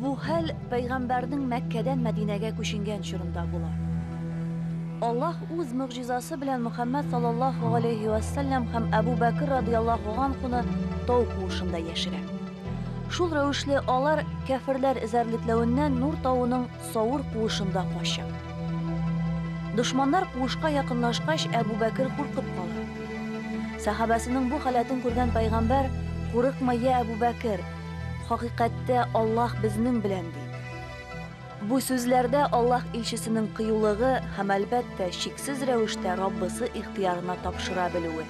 Бу хәл пәйгамбәрнең Мәккәдән Мәдинәгә күченгән чорында була. Аллаһ үз мөгъҗизасы белән Мөхәммәд саллаллаһу алейһи ва саллям һәм Әбу Бәкер радияллаһу анхуны тау куышында яшерә. Шул рәвешле алар кәферләр эзәрлекләвеннән Нур тавының Савыр куышында качып. Дошманнар куышка якынлашкач, Әбу Бәкер куркып кала. Сәхабәсенең бу халәтен күргән пайгамбәр, Курыкма, я Әбу Бәкер, хакыйкатьтә Аллаһ безнең белән, ди. Бу сүзләрдә Аллаһ илчесенең кыюлыгы һәм, әлбәттә, чиксез рәвештә Раббысы ихтыярына тапшыра белүе.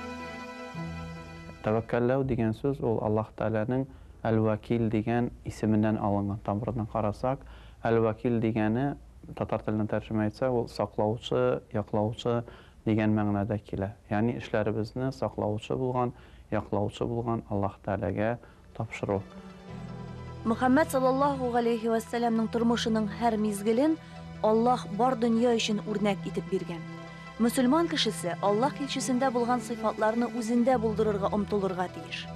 Тәвәккәлләү дигән сүз ул Аллаһ Тәгаләнең Әл-Вәкил дигән исеменнән алынган. Тамырына карасак, Әл-вәкил дигәне, татар теленә тәрҗемә итсәк, ул саклаучы, яклаучы дигән мәгънәдә килә. Ягъни эшләребезне саклаучы булган, яклаучы булган Аллаһ Тәгаләгә тапшыру. Мөхәммәд салләллаһу галәйһи вә сәләмнең тормышының һәр мизгелен Аллаһ бар дөнья өчен үрнәк итеп биргән. Мөселман кешесе Аллаһ илчесендә булган сыйфатларны үзендә булдырырга омтылырга тиеш.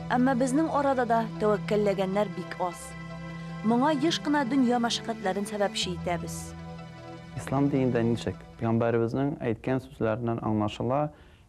Әмма безнең арада да тәвәккәлләгәннәр бик аз. Моңа еш кына дөнья мәшәкатьләрен сәбәпче итәбез. Ислам динендә ничек? Пигамбәребезнең әйткән сүзләреннән аңлашыла,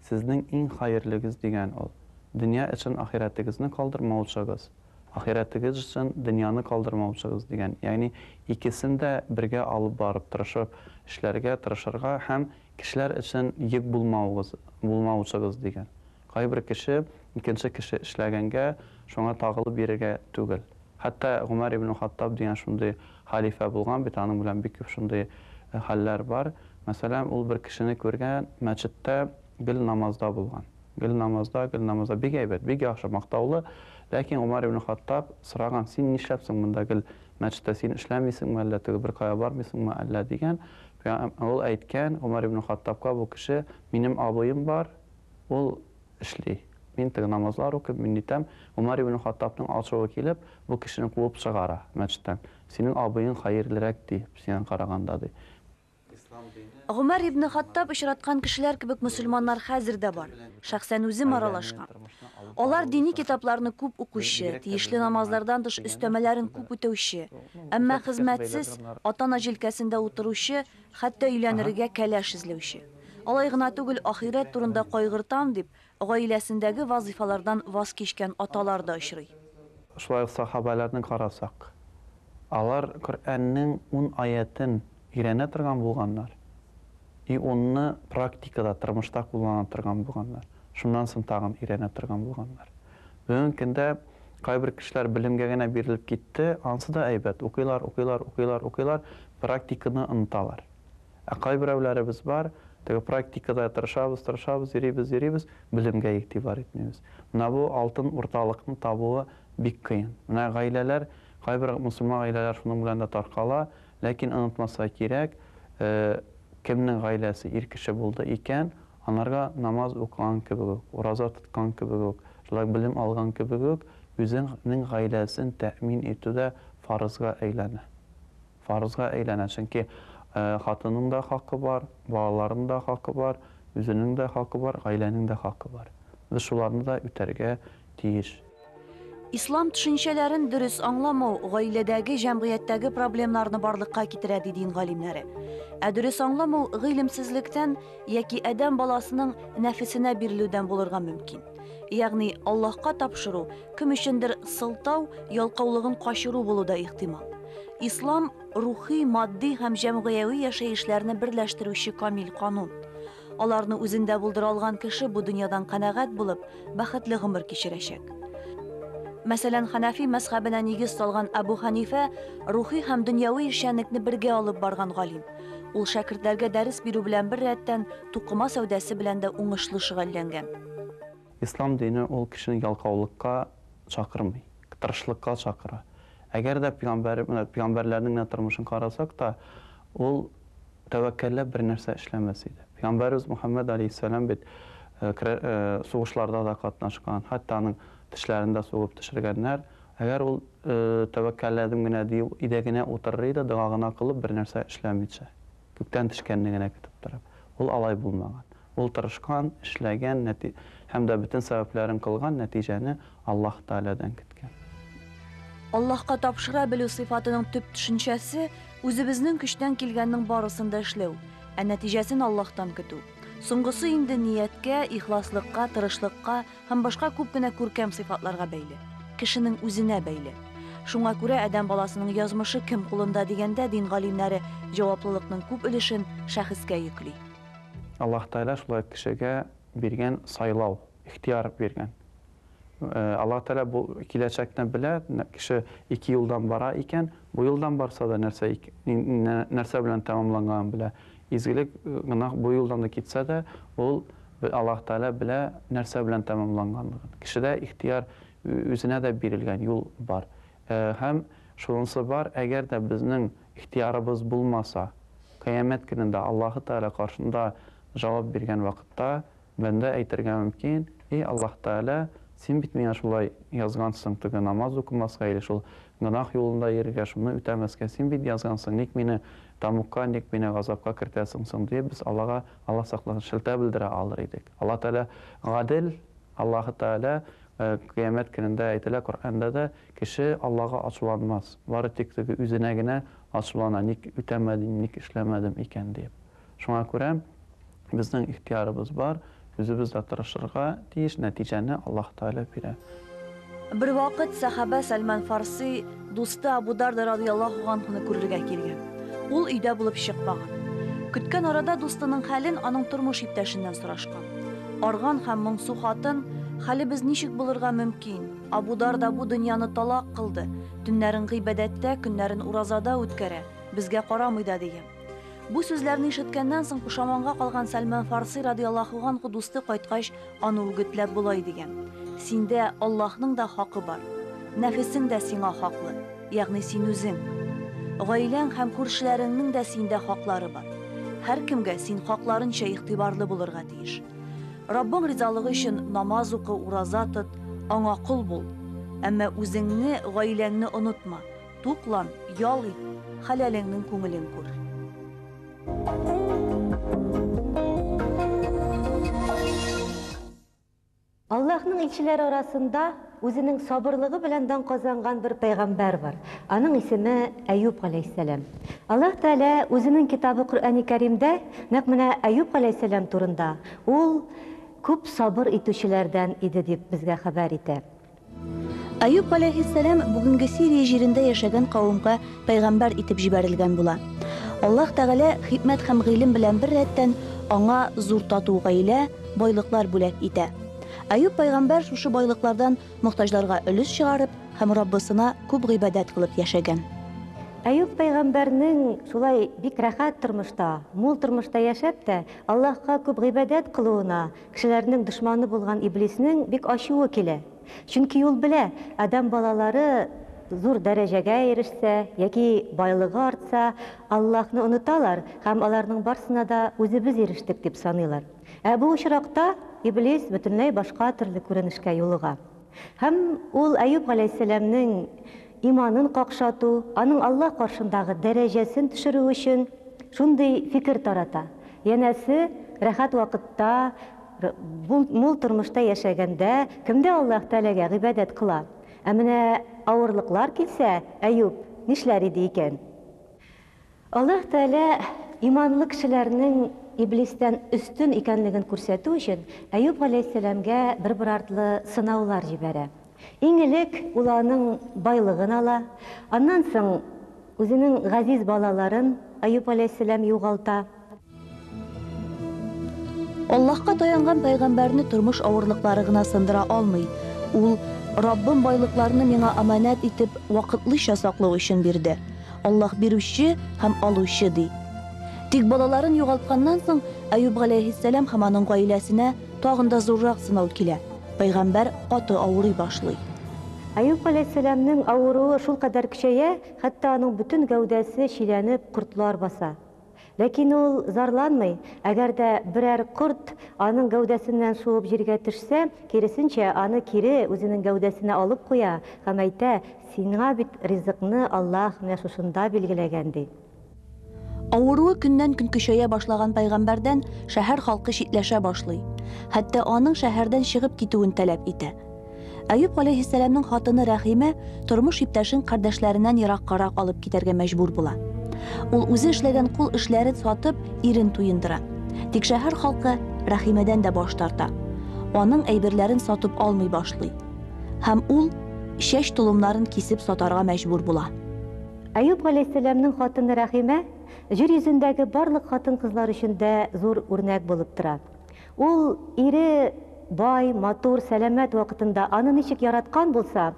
Сезнең иң хаерлегез дигән ул, дөнья өчен ахирәтегезне калдырмаучыгыз. Ахирәтегез өчен дөньяны калдырмаучыгыз дигән, ягъни икесен дә бергә алып барып, тырышып эшләргә тырышырга һәм кешеләр өчен йөк булмаугыз, булмаучыгыз дигән. Кайбер кеше икенче кеше эшләгәнгә шуңа тагылып йөрергә түгел. Хәтта Гомәр ибне Хаттаб дигән шундый хәлифә булган бит, аның белән бик күп шундый хәлләр бар. Мәсәлән, ул бер кешене күргән, мәчеттә гел намазда булган. Гөлнамазда, Гөлнамазда, бик әйбәт, бик яхшы, мактаулы, ләкин Умар ибн Хаттаб сораган, син нишләп соң монда гел мәчеттә, син эшләмисеңме әллә, теге беркая бармыйсыңмы әллә, дигән, ул әйткән, Умар ибн Хаттабка бу кеше, минем абыем бар, ул эшли, мин теге намазлар укыйм, мин нитәм, Умар ибн Хаттабның ачуы килеп, бу кешене куып чыгара мәчеттән, синең абыең хәерлерәк, ди, сиңа караганда, ди. Гомәр ибне Хаттаб очраткан кешеләр кебек мөселманнар хәзер дә бар. Шәхсән үзем аралашкан. Алар дини китапларны күп укучы, тиешле намазлардан тыш өстәмәләрен күп үтәүче, әмма хезмәтсез, ата-ана җилкәсендә утыручы, хәтта өйләнерегә кәләш эзләүче. Алай гына түгел, ахирәт турында кайгыртам дип, Гаиләсендәге вазыйфалардан ваз кичкән аталар да очрый. Шулай ук сахабәләрне карасак, алар Коръәннең ун аятен өйрәнә торган булганнар и унны практикада, тормышта куллана торган булганнар, шуннан соң тагын өйрәнә торган булганнар. Бүгенге көндә кайбер кешеләр белемгә генә бирелеп китте, ансы да әйбәт, укыйлар, укыйлар, укыйлар, укыйлар, практиканы оныталар. Ә кайберәүләребез бар, теге практикада тырышабыз, тырышабыз, йөрибез, йөрибез, белемгә игътибар итмибез. Менә бу алтын урталыкны табуы бик кыен. Менә гаиләләр, кайбер мөселман гаиләләр шуның белән дә таркала, ләкин онытмаска кирәк, кемнең гаиләсе ир кеше булды икән, анарга намаз укыган кебек үк, ураза тоткан кебек үк, шулай белем алган кебек үк, үзенең гаиләсен тәэмин итү дә фарызга әйләнә. фарызга әйләнә, чөнки хатынның да хакы бар, балаларның да хакы бар, үзенең дә хакы бар, гаиләнең дә хакы бар. Без шуларны да үтәргә тиеш. Ислам төшенчәләрен дөрес аңламау гаиләдәге, җәмгыятьтәге проблемнарны барлыкка китерә, ди дин галимнәре. Ә дөрес аңламау гыйлемсезлектән яки адәм баласының нәфесенә бирелүдән булырга мөмкин. Ягъни Аллаһка тапшыру, кем өчендер сылтау, ялкаулыгын качыру булу да ихтимал. Ислам рухи, матди һәм җәмгыяви яшәешләрне берләштерүче камил канун. Аларны үзендә булдыра алган кеше бу дөньядан канәгать булып, бәхетле гомер кичерәчәк. Мәсәлән, Ханафи мәзхәбенә нигез салган Абу Ханифә рухи һәм дөньяви эшчәнлекне бергә алып барган галим. Ул шәкертләргә дәрес бирү белән бер рәттән, тукыма сәүдәсе белән дә уңышлы шөгыльләнгән. Ислам дине ул кешене ялкаулыкка чакырмый, тырышлыкка чакыра. Әгәр дә пигамбәр, менә пигамбәрләрнең генә тормышын карасак та, ул тәвәккәлләп бер нәрсә эшләмәс иде. Пигамбәребез Мөхәммәд алейһиссәлам бит сугышларда да катнашкан, хәтта аның тешләрен дә сугып төшергәннәр, Әгәр ул тәвәккәлләдем генә дию өйдә генә утырыр иде, дога гына кылып, бернәрсә эшләмичә, күктән төшкәнне генә көтеп торып. Ул алай булмаган. Ул тырышкан, эшләгән, нәти һәм дә бөтен сәбәпләрен кылган, нәтиҗәне Аллаһ Тәгаләдән көткән. Аллаһка тапшыра белү сыйфатының төп төшенчәсе, үзебезнең көчтән килгәннең барысын да эшләү, ә нәтиҗәсен Аллаһтан көтү. Соңгысы инде нияткә, ихласлыкка, тырышлыкка, һәм башка күп кенә күркәм сыйфатларга бәйле, кешенең үзенә бәйле. Шуңа күрә адәм баласының язмышы кем кулында дигәндә дин галимнәре җаваплылыкның күп өлешен шәхескә йөкли. Аллаһ Тәгалә шулай кешегә биргән сайлау, ихтыяр биргән. Аллаһ Тәгалә бу киләчәкне белә, кеше ике юлдан бара икән, бу юлдан барса да нәрсә, нәрсә белән тәмамланганын белә, Изгелек гөнаһ бу юлдан да китсә дә, ул, Аллаһ Тәгалә белә, нәрсә белән тәмамланганлыгын. Кешедә ихтыяр, үзенә дә бирелгән юл бар. Һәм шунысы бар, әгәр дә безнең ихтыярыбыз булмаса, Кыямәт көнендә Аллаһы Тәгалә каршында җавап биргән вакытта, бәндә әйтергә мөмкин, Эй Аллаһ Тәгалә, Син бит миңа шулай язгансың, теге намаз укымаска или шул гөнаһ юлында йөрергә, шуны үтәмәскә Син бит язгансың, ник мине Тәмугка ник мине газапка кертәсең соң? диеп, без Аллага, Алла сакласын, шелтә белдерә алыр идек. Алла Тәгалә гадел, Аллаһы Тәгалә Кыямәт көнендә, әйтелә Коръәндә дә, кеше Аллага ачуланмас, бары тик теге үзенә генә ачулана, ник үтәмәдем, ник эшләмәдем икән диеп. Шуңа күрә. Безнең ихтыярыбыз бар, үзебез дә тырышырга тиеш, нәтиҗәне Аллаһ Тәгалә бирә. Бервакыт сәхабә Сәлман Фарси дусты Абу Дарда разыяллаһу ганһуны күрергә килгән. Ул өйдә булып чыкмаган. Көткән арада дустының хәлен аның тормыш иптәшеннән сорашкан. Арган һәм моңсу хатын, Хәлебез ничек булырга мөмкин? Абу Дарда бу дөньяны талак кылды, төннәрен гыйбадәттә, көннәрен уразада үткәрә, безгә карамый да, дигән. Бу сүзләрне ишеткәннән соң пошаманга калган Сәлман Фарси радиаллаһу анху дусты кайткач, аны үгетләп болай дигән, Синдә Аллаһның да хакы бар. Нәфесең дә сиңа хаклы, ягъни син үзең. Гаиләң һәм күршеләреңнең дә синдә хаклары бар. Һәркемгә син хакларынча игътибарлы булырга тиеш. Раббың ризалыгы өчен намаз укы, ураза тот, аңа кол бул. Әмма үзеңне, гаиләңне онытма. Туклан, ял ит, хәләлеңнең күңелен күр. Аллаһның илчеләре арасында үзенең сабырлыгы белән дан казанган бер пәйгамбәр бар. Аның исеме Әюп галәйһиссәлам. Аллаһ Тәгалә үзенең китабы Коръәни Кәримдә нәкъ менә Әюп галәйһиссәлам турында, ул күп сабыр итүчеләрдән иде дип безгә хәбәр итә. Аюп галәйһиссәлам бүгенге Сирия җирендә яшәгән кавемгә пәйгамбәр итеп җибәрелгән була. Аллаһ Тәгалә хикмәт һәм гыйлем белән бер рәттән аңа зур тату гаилә, байлыклар бүләк итә. Аюп пәйгамбәр шушы байлыклардан мохтаҗларга өлеш чыгарып һәм Раббысына күп гыйбадәт кылып яшәгән. Аюп пәйгамбәрнең шулай бик рәхәт тормышта, мул тормышта яшәп тә, Аллаһка күп гыйбадәт кылуына Кешеләрнең дошманы булган Иблиснең бик ачуы килә. Чөнки ул белә, адәм балалары зур дәрәҗәгә ирешсә яки байлыгы артса, Аллаһны оныталар һәм аларның барсына да үзебез ирештек дип саныйлар. Ә бу очракта Иблис бөтенләй башка төрле күренешкә юлыга. Һәм ул Әюп галәйһиссәламнең иманын какшату, аның Аллаһ каршындагы дәрәҗәсен төшерү өчен шундый фикер тарата, янәсе, рәхәт вакытта, мул тормышта яшәгәндә, кемдә Аллаһ Тәгаләгә гыйбадәт кыла? Ә менә авырлыклар килсә, Әюп нишләр иде икән? Аллаһ Тәгалә иманлы кешеләрнең Иблистән өстен икәнлеген күрсәтү өчен Әюп галәйһиссәламгә бер-бер артлы сынаулар җибәрә. Иң элек ул аның байлыгын ала, аннан соң үзенең газиз балаларын Әюп галәйһиссәлам югалта. Аллаһка таянган пәйгамбәрне тормыш авырлыклары гына сындыра алмый. Ул, Раббым байлыкларны миңа аманәт итеп, вакытлыча саклау өчен бирде. Аллаһ бирүче һәм алучы, ди. Тик балаларын югалтканнан соң, Әюп галәйһиссәлам һәм аның гаиләсенә тагын да зуррак сынау килә. Пәйгамбәр каты авырый башлый. Әюп галәйһиссәламнең авыруы шулкадәр көчәя, хәтта аның бөтен гәүдәсе чиләнеп, кортлар баса. Ләкин ул зарланмый, әгәр дә берәр корт аның гәүдәсеннән шуып җиргә төшсә, киресенчә, аны кире үзенең гәүдәсенә алып куя һәм әйтә, Сиңа бит ризыкны Аллаһ менә шушында билгеләгән, ди. Авыруы көннән-көн көчәя башлаган пәйгамбәрдән шәһәр халкы читләшә башлый, хәтта аның шәһәрдән чыгып китүен таләп итә. Әюп галәйһиссәламның хатыны Рәхимә тормыш иптәшен кардәшләреннән ераккарак алып китәргә мәҗбүр була. Ул үзе эшләгән кул эшләрен сатып, ирен туендыра. Тик шәһәр халкы Рәхимәдән дә баш тарта. Аның әйберләрен сатып алмый башлый. Һәм ул чәч толымнарын кисеп сатарга мәҗбүр була. Әюп галәйһиссәламның хатыны Рәхимә җир йөзендәге барлык хатын-кызлар өчен дә зур үрнәк булып тора. Ул ире бай, матур, сәламәт вакытында аны ничек яраткан булса,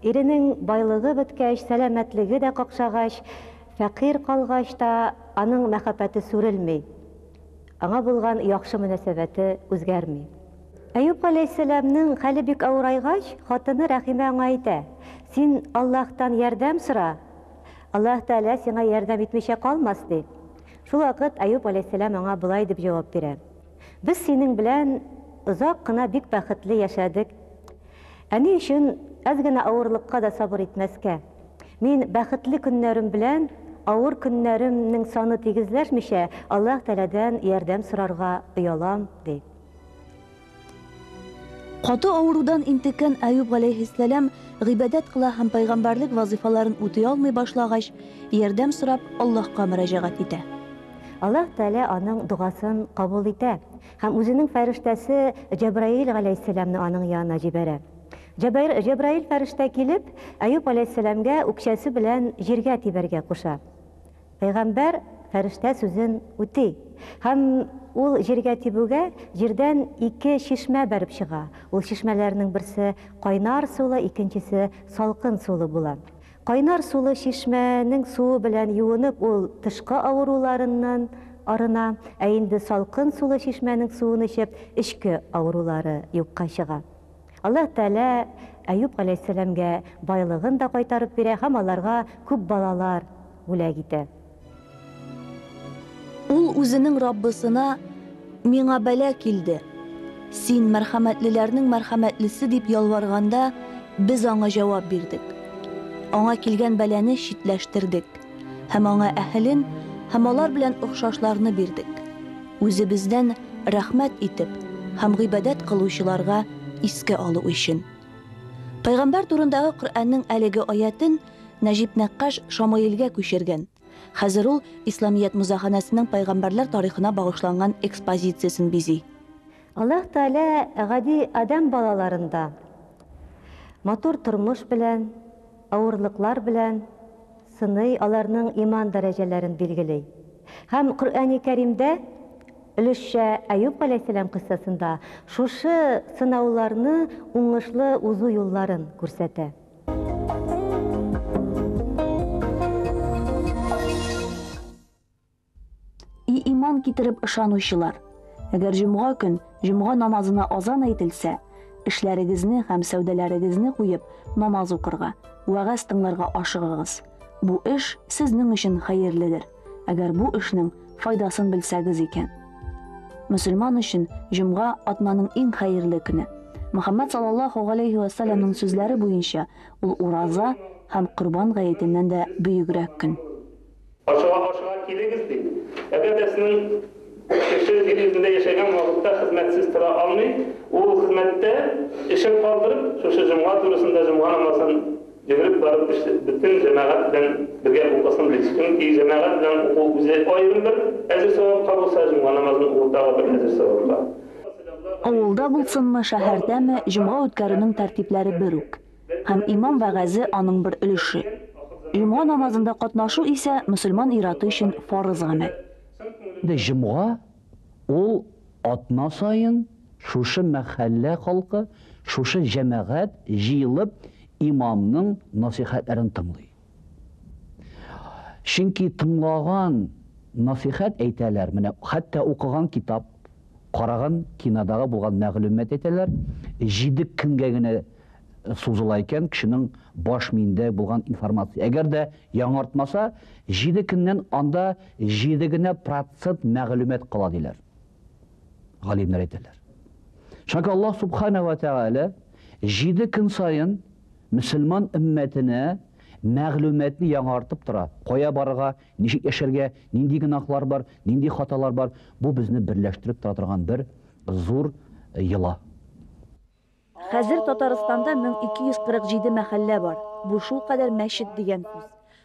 иренең байлыгы беткәч, сәламәтлеге дә какшагач, фәкыйрь калгач та аның мәхәббәте сүрелми, аңа булган яхшы мөнәсәбәте үзгәрми. Әюп галәйһиссәламнең хәле бик авырайгач, хатыны Рәхимә аңа әйтә, Син Аллаһтан ярдәм сора, Аллаһ Тәгалә сиңа ярдәм итмичә калмас, ди. Шулвакыт Әюп галәйһиссәлам аңа болай дип җавап бирә, Без синең белән озак кына бик бәхетле яшәдек, ә ни өчен әз генә авырлыкка да сабыр итмәскә? Мин бәхетле көннәрем белән авыр көннәремнең саны тигезләшмичә, Аллаһ Тәгаләдән ярдәм сорарга оялам, ди. Каты авырудан интеккән Аюб галәйһиссәлам гыйбадәт кыла һәм пайгамбәрлек вазыйфаларын үти алмый башлагач, ярдәм сорап Аллаһка мөрәҗәгать итә. Аллаһ Тәгалә аның догасын кабул итә һәм үзенең фәрештәсе Җәбраил галәйһиссәламне аның янына җибәрә. Җәбаир, Җәбраил фәрештә килеп, Аюб галәйһиссәламгә үкчәсе белән җиргә тибәргә куша. Пәйгамбәр фәрештә сүзен үти һәм ул җиргә тибүгә, җирдән ике чишмә бәреп чыга. Ул чишмәләрнең берсе кайнар сулы, икенчесе салкын сулы була. Кайнар сулы чишмәнең суы белән юынып, ул тышкы авыруларыннан арына, ә инде салкын сулы чишмәнең суын эчеп, эчке авырулары юкка чыга. Аллаһ Тәгалә Әюп галәйһиссәламгә байлыгын да кайтарып бирә һәм аларга күп балалар бүләк итә. Ул үзенең Раббысына, Миңа бәла килде. Син, мәрхәмәтлеләрнең мәрхәмәтлесе, дип ялварганда, без аңа җавап бирдек. Аңа килгән бәлане читләштердек һәм аңа әһелен һәм алар белән охшашларны бирдек. Үзебездән рәхмәт итеп һәм гыйбадәт кылучыларга искә алу өчен. Пәйгамбәр турындагы Коръәннең әлеге аятен Нәҗип нәккаш Шамаилгә күчергән, хәзер ул Исламият музаханәсенең пәйгамбәрләр тарихына багышланган экспозициясен бизи. Аллаһ Тәгалә гади адәм балаларын да матур тормыш белән, авырлыклар белән сыный, аларның иман дәрәҗәләрен билгели. Һәм Коръәни Кәримдә өлешчә Әюп галәйһиссәлам кыйссасында шушы сынауларны уңышлы узу юлларын күрсәтә. И иман китереп ышанучылар! Әгәр җомга көн җомга намазына азан әйтелсә, эшләрегезне һәм сәүдәләрегезне куеп, намаз укырга, вәгазь тыңларга ашыгыгыз. Бу эш сезнең өчен хәерледер, әгәр бу эшнең файдасын белсәгез икән. Мөселман өчен җомга атнаның иң хәерле көне. Мөхәммәд саллаллаһу галәйһи вә сәлләмнең сүзләре буенча, ул ураза һәм Корбан гаетеннән дә бөегрәк көн. Ашыга ашыга килегез, ди. Әгәр дә сезнең кеше җир йөзендә яшәгән вакытта хезмәтсез тора алмый, ул хезмәттә эшен калдырып, шушы җомга турысында җомга намазын йөгереп барып эшләп, бөтен җәмәгать белән бергә укысын бит. Чөнки җәмәгать белән уку үзе аерым бер әҗер савапка булса, җомга намазын уку тагы бер әҗер савапка. Авылда булсынмы, шәһәрдәме, җомга үткәрүнең тәртипләре бер үк. Һәм имам вәгазе аның бер өлеше. Җомга намазында катнашу исә мөселман ир-аты өчен фарыз гамәл. Инде җомга ул атна саен шушы мәхәллә халкы, шушы җәмәгать җыелып имамның насыйхәтләрен тыңлый. Чөнки тыңлаган, насыйхәт әйтәләр, менә хәтта укыган китап, караган кинодагы булган мәгълүмат әйтәләр, җиде көнгә генә сузыла икән, кешенең баш миендә булган информация. Әгәр дә яңартмаса, җиде көннән анда җиде генә процент мәгълүмат кала диләр. Галимнәр әйтәләр. Чөнки Аллаһ субхана ва тәгалә җиде көн саен мөселман өммәтенә мәгълүматны яңартып тора. Кая барырга, ничек яшәргә, нинди гөнаһлар бар, нинди хаталар бар, бу безне берләштереп тора торган бер зур йола. Хәзер Татарстанда 1247 мәхәллә бар. Бу шулкадәр мәчет дигән сүз.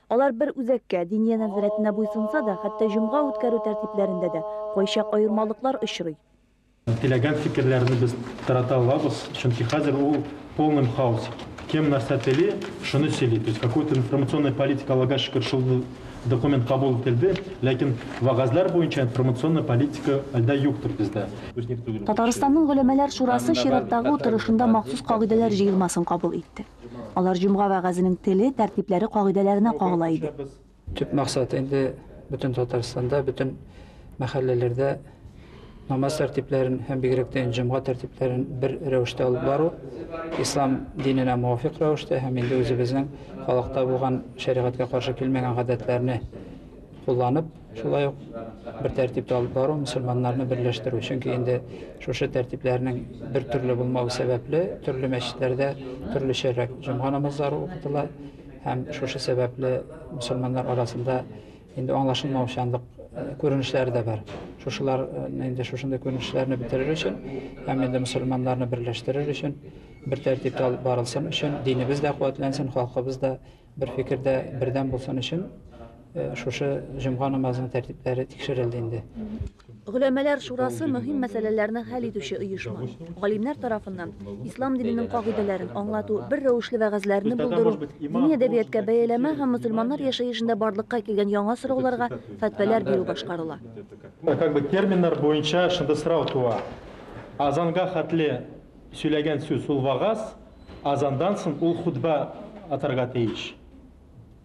Алар бер үзәккә, Диния нәзарәтенә буйсынса да, хәтта җомга үткәрү тәртипләрендә дә кайчак аермалыклар очрый. Теләгән фикерләрне без тарата алабыз, чөнки хәзер ул полным хаос. Кем нәрсә тели, шуны сөйли. То есть какой-то информационная политика Аллага шөкер шул Документ кабул ителде, ләкин вәгазьләр буенча информационный политика әлдә юктыр бездә. Татарстанның Голәмәләр шурасы чираттагы утырышында махсус кагыйдәләр җыелмасын кабул итте. Алар җомга вәгазенең теле, тәртипләре кагыйдәләренә кагыла иде. Төп максаты инде бөтен Татарстанда, бөтен мәхәлләләрдә. намаз тәртипләрен һәм бигрәк тә җомга тәртипләрен бер рәвештә алып бару, ислам диненә муафик рәвештә һәм инде үзебезнең халыкта булган шәригатькә каршы килмәгән гадәтләрне кулланып, шулай ук бер тәртиптә алып бару мөселманнарны берләштерү. Чөнки инде шушы тәртипләрнең бер төрле булмавы сәбәпле, төрле мәчетләрдә төрлечәрәк җомга намазлары укытыла һәм шушы сәбәпле мөселманнар арасында Инде аңлашылмаучанлык күренешләре дә бар. Шушылар инде шушындый күренешләрне бетерер өчен, һәм инде мусульманнарны берләштерер өчен, бер тәртиптә алып барылсын өчен, динебез дә куәтләнсен, халкыбыз да бер фикердә бердәм булсын өчен, шушы җомга намазының тәртипләре тикшерелде инде. Гөләмәләр шурасы мөһим мәсьәләләрне хәл итүче оешма. Галимнәр тарафыннан ислам диненең кагыйдәләрен аңлату, бер рәвешле вәгазьләрне булдыру, дини әдәбияткә бәяләмә һәм мөселманнар яшәешендә барлыкка килгән яңа сорауларга фәтвәләр бирү башкарыла. Ә как бы терминнар буенча шунда сорау туа, азанга хәтле сөйләгән сүз ул вагаз, азандан соң ул хутбә атарга тиеш.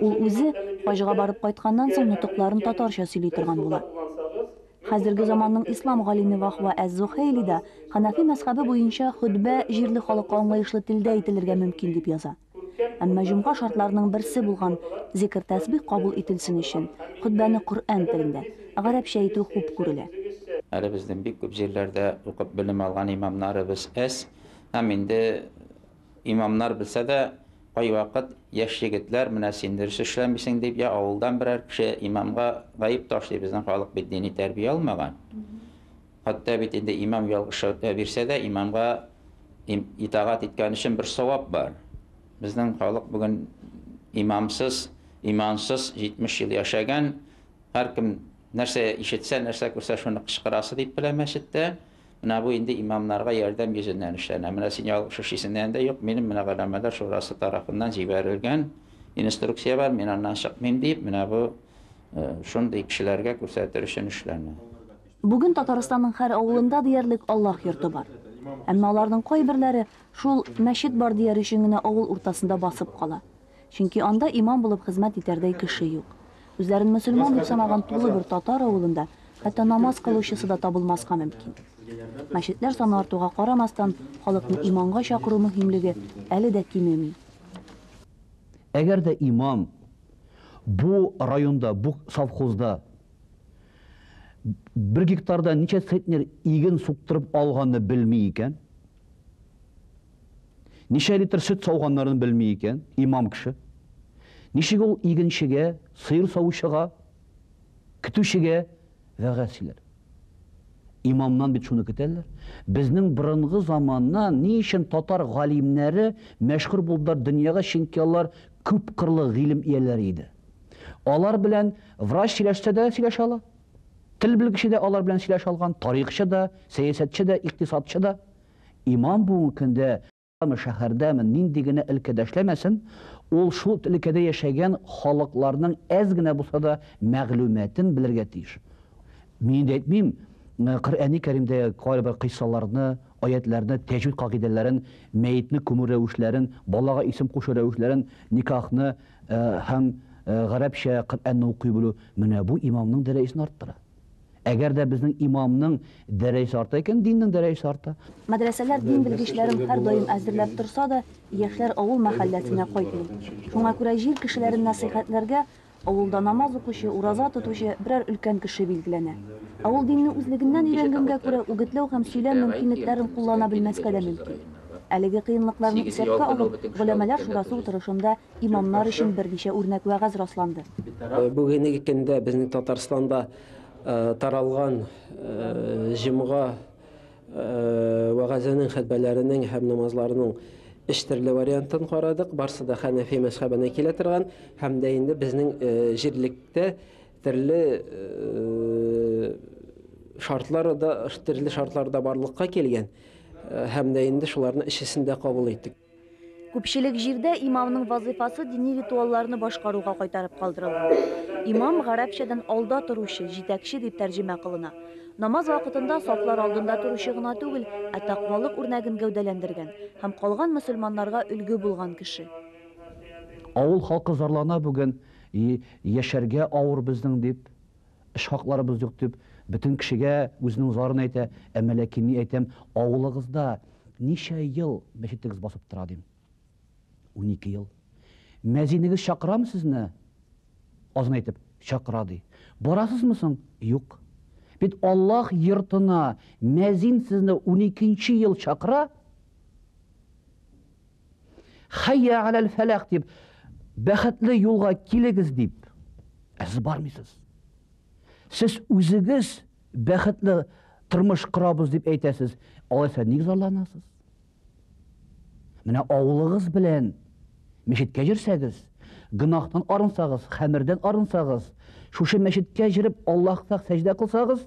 Ул үзе, хаҗга барып кайтканнан соң, нотыкларын татарча сөйли торган була. Хәзерге заманның ислам галиме Вахва әз-Зухәйли дә, Ханафи мәзхәбе буенча, хөтбә җирле халыкка аңлаешлы телдә әйтелергә мөмкин дип яза. Әмма җомга шартларының берсе булган зикер-тәсбих кабул ителсен өчен, хөтбәне Коръән телендә, гарәпчә итү хуп күрелә. Әле безнең бик күп җирләрдә укып белем алган имамнарыбыз әз һәм инде. Имамнар белсә дә, кайвакыт яшь егетләр, менә син дөрес эшләмисең дип, я авылдан берәр кеше имамга гаеп ташлый, безнең халык бит дини тәрбия алмаган. Хәтта бит инде имам ялгыш фәтва бирсә дә, имамга итагать иткән өчен бер савап бар. Безнең халык бүген имамсыз, имансыз 70 ел яшәгән, һәркем нәрсә ишетсә, нәрсә күрсә, шуны кычкырасы дип белә мәчеттә. Менә бу инде имамнарга ярдәм йөзеннән эшләнә. Менә син ялгыш эш исеңдә дә юк, минем менә Галәмәләр шурасы тарафыннан җибәрелгән инструкция бар, мин аннан чыкмыйм диеп, менә бу шундый кешеләргә күрсәтер өчен эшләнә. Бүген Татарстанның һәр авылында диярлек Аллаһ йорты бар. Әмма аларның кайберләре шул мәчет бар дияр өчен генә авыл уртасында басып кала. Чөнки анда имам булып хезмәт итәрдәй кеше юк. Үзләрен мөселман дип санаган тулы бер татар авылында хәтта намаз кылучысы да табылмаска мөмкин. Мәчетләр саны артуга карамастан, халыкны иманга чакыру мөһимлеге әле дә кимеми. Әгәр дә имам бу районда, бу совхозда бер гектардан ничә центнер иген суктырып алганны белми икән, Ничә литр сөт сауганнарын белми икән имам кеше. Ничек ул игенчегә, сыер савучыга, көтүчегә вәгазь сөйләр? Имамнан бит шуны көтәләр. Безнең борынгы заманна ни өчен татар галимнәре мәшһүр булдылар дөньяга, чөнки алар күп кырлы гыйлем ияләре иде. Алар белән врач сөйләшсә дә сөйләшә ала, Тел белгече дә алар белән сөйләшә алган, тарихчы да, сәясәтче дә, икътисадчы да. Имам бүгенге көндә ме, шәһәрдәме, нинди генә өлкәдә эшләмәсен, ул шул өлкәдә яшәгән халыкларның әз генә булса да мәгълүматын белергә тиеш. Мин инде әйтмим, Коръәни Кәримдәге кайбер кыйссаларны, аятьләрне, тәҗвид кагыйдәләрен, мәетне күмү рәвешләрен, балага исем кушу рәвешләрен, никахны, Һәм гарәпчә Коръәнне укый белү менә бу имамның дәрәҗәсен арттыра. Әгәр дә безнең имамның дәрәҗәсе арта икән, диннең дәрәҗәсе арта. Мәдрәсәләр дин белгечләрен һәрдаим әзерләп торса да, яшьләр авыл мәхәлләсенә кайтмый. Шуңа күрә җир кешеләрен нәсыйхәтләргә авылда намаз укучы, ураза тотучы берәр өлкән кеше билгеләнә. Ә ул динне үзлегеннән өйрәнгәнгә күрә үгетләү һәм сөйләм мөмкинлекләрен куллана белмәскә дә мөмкин. Әлеге кыенлыкларны исәпкә алып, Голәмәләр шурасы утырышында имамнар өчен берничә үрнәк вәгазь расланды. Бүгенге көндә безнең Татарстанда таралган җомга вәгазенең, хөтбәләренең һәм намазларының өч төрле вариантын карадык. Барсы да Хәнәфи мәзхәбенә килә торган һәм дә инде безнең җирлектә Терле шартлары да, терле шартлары да барлыкка килгән һәм дә инде шуларны эчесендә кабул иттек. Күпчелек җирдә имамның вазыйфасы дини ритуалларны башкаруга кайтарып калдырыла. Имам гарәпчәдән алда торучы, җитәкче дип тәрҗемә кылына. Намаз вакытында сафлар алдында торучы гына түгел, ә таквалык үрнәген гәүдәләндергән һәм калган мөселманнарга өлге булган кеше. Авыл халкы зарлана бүген. И, яшәргә авыр безнең, дип, эш хакларыбыз юк, дип, бөтен кешегә үзенең зарын әйтә, ә Мәләки ни әйтәм, авылыгызда ничә ел мәчетегез басып тора, дим. Унике ел. Мәзинегез чакырамы сезне? Азан әйтеп, чакыра, ди. Барасызмы соң? Юк. Бит Аллаһ йортына мәзин сезне уникенче ел чакыра. Хәйя аләл фәләх дип, бәхетле юлга килегез дип, ә сез бармыйсыз. Сез үзегез бәхетле тормыш корабыз дип әйтәсез, алайса ник зарланасыз? Менә авылыгыз белән мәчеткә йөрсәгез, гөнаһтан арынсагыз, хәмердән арынсагыз, шушы мәчеткә җырып Аллаһка сәҗдә кылсагыз,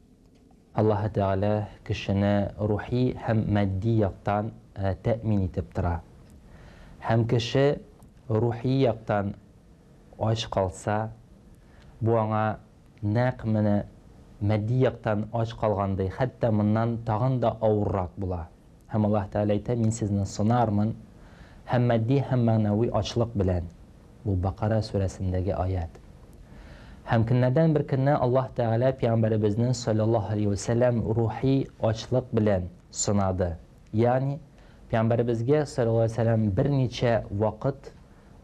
Аллаһы Тәгалә кешене рухи һәм матди яктан тәэмин итеп тора. Һәм кеше рухи яктан ач калса, бу аңа нәкъ менә матди яктан ач калгандай, хәтта моннан тагын да авыррак була. Һәм Аллаһ Тәгалә әйтә, Мин сезне сынармын, һәм матди һәм мәгънәви ачлык белән. Бу Бакара сүрәсендәге аять. Һәм көннәрдән бер көнне Аллаһ Тәгалә пәйгамбәребезне, салләллаһу галәйһи вә сәлләм, рухи ачлык белән сынады. Ягъни, пәйгамбәребезгә, салләллаһу галәйһи вә сәлләм, берничә вакыт,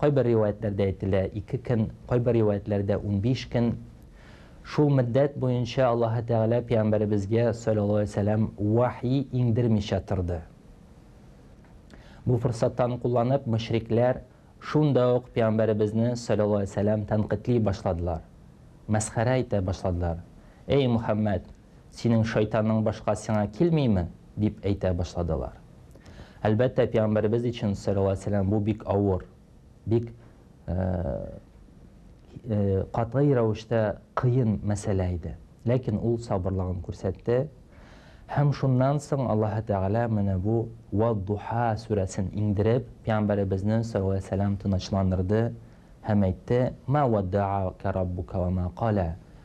Кайбер риваятьләрдә әйтелә, ике көн, кайбер риваятьләрдә унбиш көн. Шул мөддәт буенча Аллаһы Тәгалә пәйгамбәребезгә, салләллаһу галәйһи вә сәлләм, вәхи иңдермичә торды. Бу форсаттан кулланып, мөшрикләр шунда ук пәйгамбәребезне, салләллаһу галәйһи вә сәлләм, тәнкыйтьли башладылар, мәсхәрә итә башладылар, Әй, Мөхәммәд! Синең шайтанның башка сиңа килмиме? дип әйтә башладылар. Әлбәттә, пигамбәребез өчен, салләллаһу галәйһи ва сәлләм, бу бик авыр, бик катгый рәвештә кыен мәсьәлә иде. Ләкин ул сабырлыгын күрсәтте. Һәм шуннан соң Аллаһы Тәгалә менә бу Вад-духа сүрәсен иңдереп, пигамбәребезне, салләллаһу галәйһи ва сәлләм, тынычландырды һәм әйтте, Мә уадда'ака раббука ва мә кала.